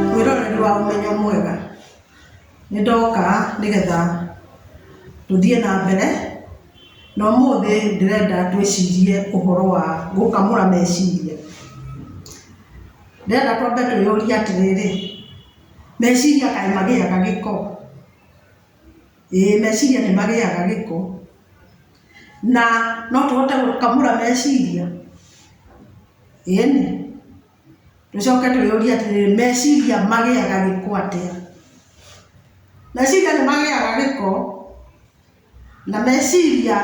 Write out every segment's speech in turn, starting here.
Mwĩroreri wa Ũmenyo Mwega, nĩ ndoka nĩgetha tũthiĩ na mbere, na ũmũthĩ ndĩrenda twĩcirie ũhoro wa gũkamũra meciria. Ndĩrenda twambe twĩyũrie atĩrĩrĩ, meciria kaĩ magĩaga gĩko? ĩĩ meciria nĩ magĩaga gĩko, na no tũhote gũkamũra meciria? ĩĩni, tũcoke twĩyũrie atĩrĩrĩ, meciria magĩaga gĩko atĩa? Meciria nĩ magĩaga gĩko, na meciria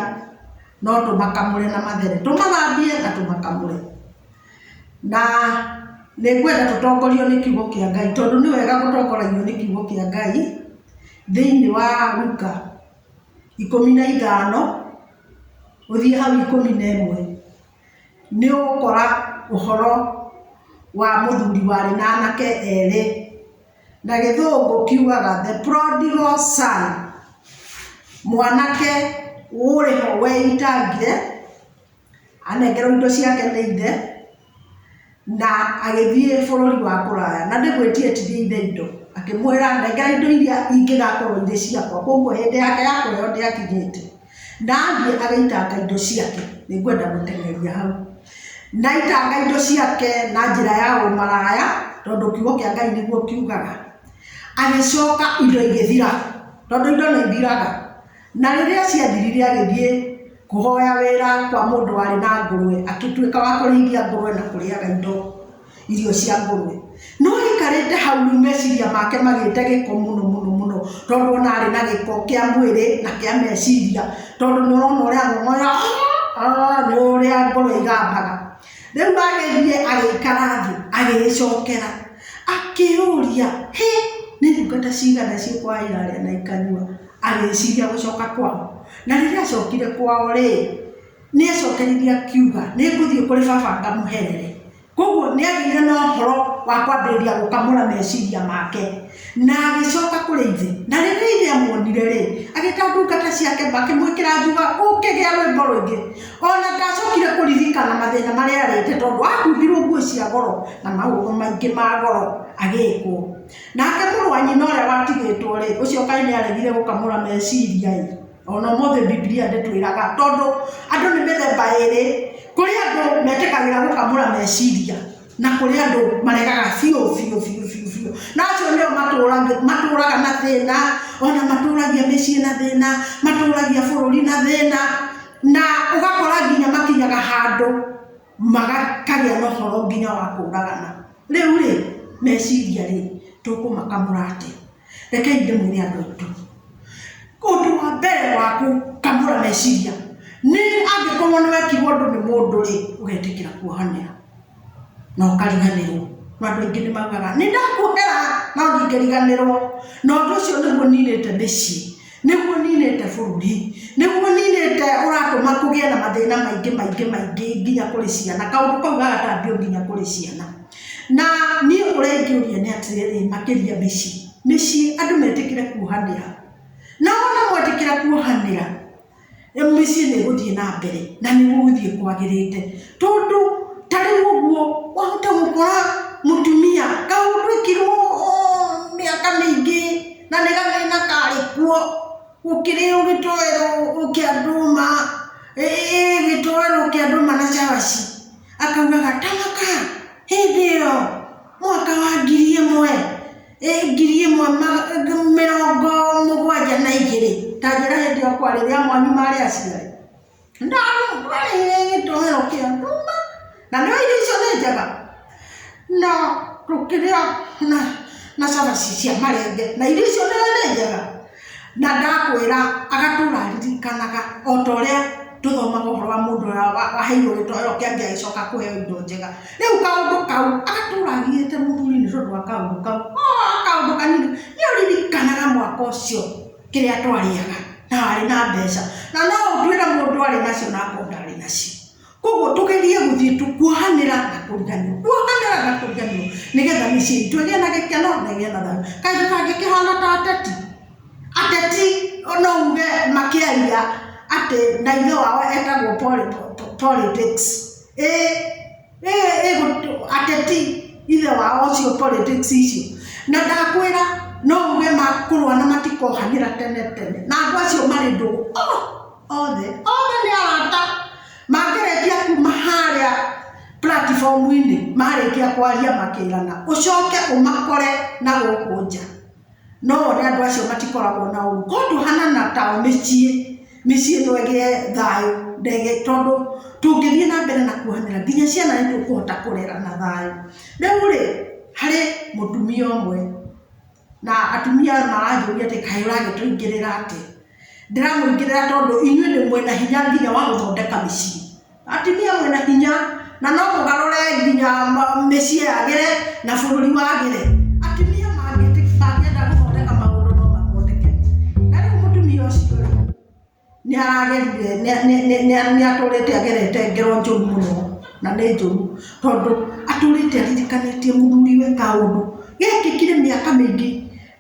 no tũmakamũre na mathere. Tũmathambie na tũmakamũre. Na nĩngwenda tũtongorio nĩ kiugo kĩa Ngai, tondũ nĩ wega gũtongoragio nĩ kiugo kĩa Ngai, thĩiniĩ wa Luka ikũmi na ithano, ũthiĩ hau ikũmi na ĩmwe. Nĩ ũgũkora ũhoro wa mũthuri warĩ na anake erĩ, na gĩthũngũ kiugaga the prodigal son. Mwanake ũrĩ ho weitangire. anengerwo indo ciake nĩ ithe, na agĩthiĩ bũrũri wa kũraya. Na ndĩmwĩtie ĩtithia ithe indo, akĩmwĩra nengera indo iria ingĩgakorwo irĩ ciakwa, kwoguo hĩndĩ yake ya kũheo ndĩakinyĩte. Na athiĩ agĩitanga indo ciake, nĩ ngwenda gũteng'eria hau. Na aitanga indo ciake na njĩra ya ũmaraya, tondũ kiugo kĩa Ngai nĩguo kiugaga. Agĩcoka indo igĩthira, tondũ indo nĩ ithiraga. Na rĩrĩa ciathirire agĩthiĩ kũhoya wĩra kwa mũndũ warĩ na ngũrwe, akĩtuĩka wa kũrĩithia ngũrwe na kũrĩaga indo irio cia ngũrwe. No aikarĩte hau rĩu meciria make magĩte gĩko mũno mũno mũno, tondũ ona arĩ na gĩko kĩa mwĩrĩ na kĩa meciria, tondũ nĩ ũrona ũrĩa ahohora nĩ ũrĩa ngũrwe igambaga. Rĩu agĩthiĩ agĩikara thĩ agĩĩcokera, akĩĩyũria, hĩ! nĩ ndungata cigana ciũkũrĩa irarĩa na ikanyua? Agĩĩciria gũcoka kwao. Na rĩrĩa aacokire kwao-rĩ, nĩ eecokeririe akiuga, Nĩ ngũthiĩ kũrĩ baba ngamũherere. Kwoguo nĩ aagĩire na ũhoro wa kwambĩrĩria gũkamũra meciria make. Na agĩcoka kũrĩ ithe. Na rĩrĩa ithe aamuonire-rĩ, agĩta ndungata ciake makĩmwĩkĩra njuga, Ũkĩgĩa rwĩmbo rũingĩ. O na ndaacokire kũririkana mathĩna marĩa eerĩte tondũ aakumbirũo nguo cia goro na maũndũ maingĩ ma goro agĩkwo. Nake mũrũ wa nyina ũrĩa watigĩtwo-rĩ, ũcio kaĩ nĩaregire gũkamũra meciria-ĩ! O na ũmũthĩ Bibilia ndĩtwĩraga, tondũ andũ nĩ mĩthemba ĩrĩ, kũrĩ andũ metĩkagĩra gũkamũra meciria, na kũrĩ andũ maregaga biũ biũ biũ biũ biũ. Na acio nĩo matũraga na thĩna, o na matũragia mĩciĩ na thĩna, matũragia bũrũri na thĩna, na ũgakora nginya makinyaga handũ. magakagĩa na ũhoro nginya wa kũũragana. Rĩu rĩ, meciria rĩ, tũkũmakamũra atĩa? Rekei ndĩmwĩre andũ aitũ. Ũndũ wa mbere wa gũkamũra meciria nĩ angĩkorwo nĩ wekirwo ũndũ nĩ mũndũ rĩ, ũgetĩkĩra kuohanĩra na ũkariganĩrwo. Na andũ aingĩ nĩ maugaga nĩ ndakuohera no ndingĩriganĩrwo, na ũndũ ũcio nĩguo ninĩte mĩciĩ. Nĩguo niinĩte bũrũri. Nĩguo niinĩte ũratũma kũgĩe na mathĩna maingĩ maingĩ maingĩ nginya kũrĩ ciana. Kaũndũ kau gagatambio nginya kũrĩ ciana. Na niĩ ũrĩa ingĩũria nĩ atĩrĩrĩ, makĩria mĩciĩ. Mĩciĩ andũ metĩkĩre kuohanĩra. Na wona mwetĩkĩra kuohanĩra. mũciĩ nĩ gũthiĩ na mbere na nĩ gũgũthiĩ kwagĩrĩte. Tondũ ta rĩu ũguo wahota gũkora mũtumia kahũrũkirwo mĩaka mĩingĩ na nĩ gathĩna karĩ kuo, gũkĩrĩo gĩtoero kĩa ndũma, gĩtoero kĩa ndũma na cabaci. Akaugaga ta mũka hĩndĩ ĩyo mwaka wa ngiri ĩmwe. ngiri ĩmwe mĩrongo mũgwanja na igĩrĩ ta njĩra hĩndĩ ĩyo kwarĩ rĩrĩa mwanyu marĩ aciari ndarĩire gĩtũmĩro kĩa nduma na nĩ irio icio nĩ njega na tũkĩrĩa na na cabaci cia marenge na irio icio nĩ njega. Na ndakwĩra agatũũra aririkanaga o ta ũrĩa tũthomaga ũhoro wa mũndũ ũrĩa waheirwo gĩtoero kĩa mbia agĩcoka kũheo indo njega. Rĩu kaũndũ kau agatũũra agiĩte mũthuri nĩ tondũ wa kaũndũ kau. Ooh kaũndũ kanini. Nĩ ũririkanaga mwaka ũcio kĩrĩa twarĩaga na warĩ na mbeca. Na no ũtuĩre mũndũ arĩ nacio na akorwo ndarĩ nacio. koguo tũgerie gũthiĩ tu- kuohanĩra na kũriganĩrwo kuohanĩra na kũriganĩrwo nĩgetha mĩciĩ itũ ĩgĩe na gĩkeno na ĩgĩe na thayũ kaĩ tũtangĩkĩhana ta ateti ateti no uge makĩaria atĩ na ithe wao etagwo poli- po- po- politics ĩ ĩ ĩ gũtũ- ateti ithe wao ũcio politics icio na ndakwĩra no uge makũrũa na matikohanĩra tene tene na andũ acio marĩ ndũgũ oh! othe othe nĩ arata makĩrĩkia kuma harĩa platform-inĩ marĩkia kwaria makĩrana ũcoke ũmakore na gũkũ nja no wone andũ acio matikoragwo na ũru ko tũhanana ta mĩciĩ mĩciĩ ĩno ĩgĩe thayũ ndege tondũ tũngĩthiĩ na mbere na kuohanĩra nginya ciana nĩ tũkũhota kũrera na thayũ rĩu rĩ harĩ mũtumia ũmwe Na atumia aya maranjũria atĩ kaĩ ũragĩtũingĩrĩra atĩ? Ndĩramũingĩrĩra tondũ inyuĩ nĩ mwĩna hinya nginya wa gũthondeka mĩciĩ. Atumia mwĩna hinya, na no mũgarũre nginya mĩciĩ yagĩre na bũrũri wagĩre. Atumia mangĩenda gũthondeka maũndũ no mathondeke. Na rĩu mũtumia ũcio rĩ? Nĩ aragerire, nĩ, nĩ, nĩ, nĩ, nĩ atũrĩte agerete ngero njũru mũno, na nĩ njũru. Tondũ, atũrĩte aririkanĩtie mũthuriwe kaũndũ, gekĩkire mĩaka mĩingĩ,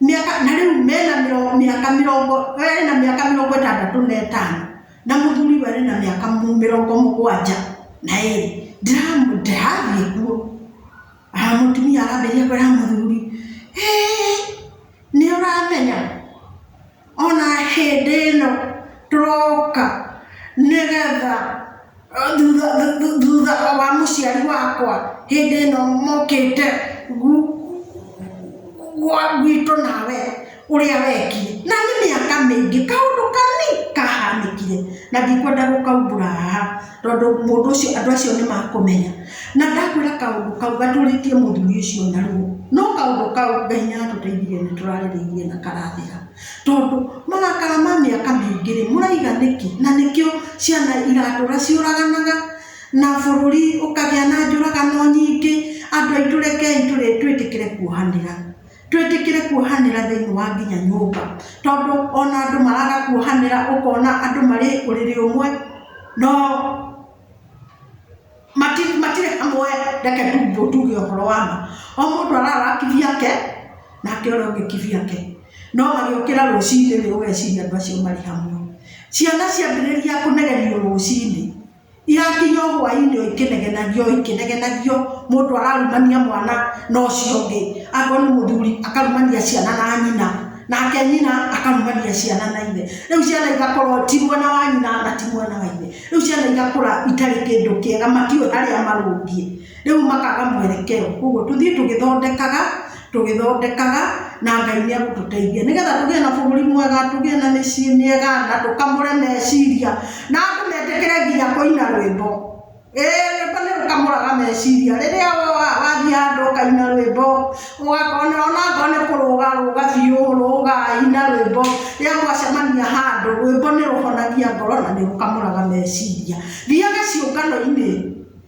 mĩaka, na rĩu mena mĩro, mĩaka mĩrongo, we arĩ na mĩaka mĩrongo ĩtandatũ na ĩtano, na mũthuriwe arĩ na mĩaka mũ, mĩrongo mũgwanja na ĩrĩ. Ndĩramũ, ndĩrathiĩ kuo. Haa mũtumia arambĩrĩria kwĩra mũthuri, Hĩĩ! Nĩ ũramenya? ona hĩndĩ ĩno tũroka nĩgetha thutha thutha wa mũciari wakwa hĩndĩ ĩno mokĩte gu gwa gwitũ nawe ũrĩa weekire. Na nĩ mĩaka mĩingĩ, kaũndũ kanini kahanĩkire, na ndikwenda gũkaumbũra haha. tondũ mũndũ ũcio andũ acio nĩ makũmenya. Na ndakwĩra kaũndũ kau gatũrĩtie mũthuri ũcio na ruo, no kaũndũ kau Ngai nĩ atũteithirie nĩ tũrarĩrĩirie na karathira. Tondũ marakara ma mĩaka mĩingĩ rĩ, mũraiga nĩkĩ? Na nĩkĩo ciana iratũra ciũraganaga, na bũrũri ũkagĩa na njũragano nyingĩ, andũ aitũ rekei twĩtĩkĩre kuohanĩra. Twĩtĩkĩre kuohanĩra thĩinĩ wa nginya nyũmba, tondũ ona andũ maraga kuohanĩra ũkona andũ marĩ ũrĩrĩ ũmwe no matirĩ hamwe reke tu tuge ũhoro wa ma. O mũndũ arara kivi yake nake ũrĩa ũngĩ kivi yake. No magĩũkĩra rũcinĩ rĩ ũgeciria andũ acio marĩ hamwe. Ciana ciambĩrĩria kũnegenio rũcinĩ. Irakinya o hwainĩ o ikĩnegenagio o ikĩnegenagio, mũndũ ararumania mwana na ũcio ũngĩ, akorwo nĩ mũthuri akarumania ciana na nyina, nake nyina akarumania ciana na ithe. Rĩu ciana igakorwo ti mwena wa nyina na ti mwena wa ithe. Rĩu ciana igakũra itarĩ kĩndũ kĩega matiũĩ harĩa marũngiĩ. Rĩu makaga mwerekeo. Koguo tũthiĩ tũgĩthondekaga, tũgĩthondekaga, na Ngai nĩ egũtũteithia. Nĩgetha tũgĩe na bũrũri mwega, tũgĩe na mĩciĩ mĩega, na tũkamũre meciria, na andũ metĩkĩre nginya kũina rwĩmbo. Ĩĩ rwĩmbo nĩ rũkamũraga meciria. Rĩrĩa wathiĩ handũ ũkaina rwĩmbo, ũgakora onakorwo nĩ kũrũga ũrũga biũ, ũrũga, ina rwĩmbo. Rĩrĩa mwacemania handũ, rwĩmbo nĩ rũhonagia ngoro na nĩ rũkamũraga meciria. Thiaga ciũngano-inĩ.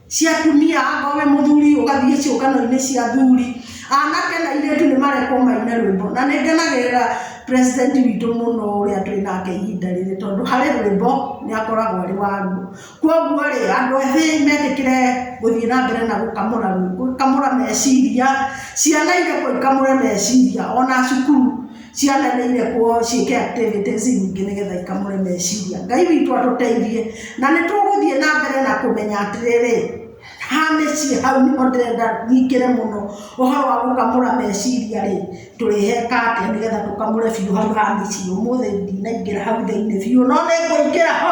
cia atumia akorwo wĩ mũthuri ũgathiĩ ciũngano-inĩ cia athuri anake na airĩtu nĩ marekwo maine rwĩmbo na nĩ ngenagĩrĩra president witũ mũno ũrĩa twĩ nake ihinda rĩrĩ tondũ harĩ rwĩmbo nĩ akoragwo arĩ waruo kwoguo rĩ andũ ethĩ metĩkĩre gũthiĩ na mbere na gũkamũra rwĩmbo gũkamũra meciria ciana irekwo ikamũre meciria ona cukuru. Ciana nĩ irekwo ciĩke activities nyingĩ nĩgetha ikamũre meciria. Ngai witũ atũteithie. Na nĩ tũgũthiĩ na mbere na kũmenya atĩrĩrĩ, ha mĩciĩ hau nĩho ndĩrenda nyingĩre mũno. Ũhoro wa gũkamũra meciria rĩ, tũrĩheka atĩa nĩgetha tũkamũre biũ hau ha mĩciĩ. Ũmũthĩ ndinaingĩra hau thĩinĩ biũ, no nĩ ngũingĩra ho.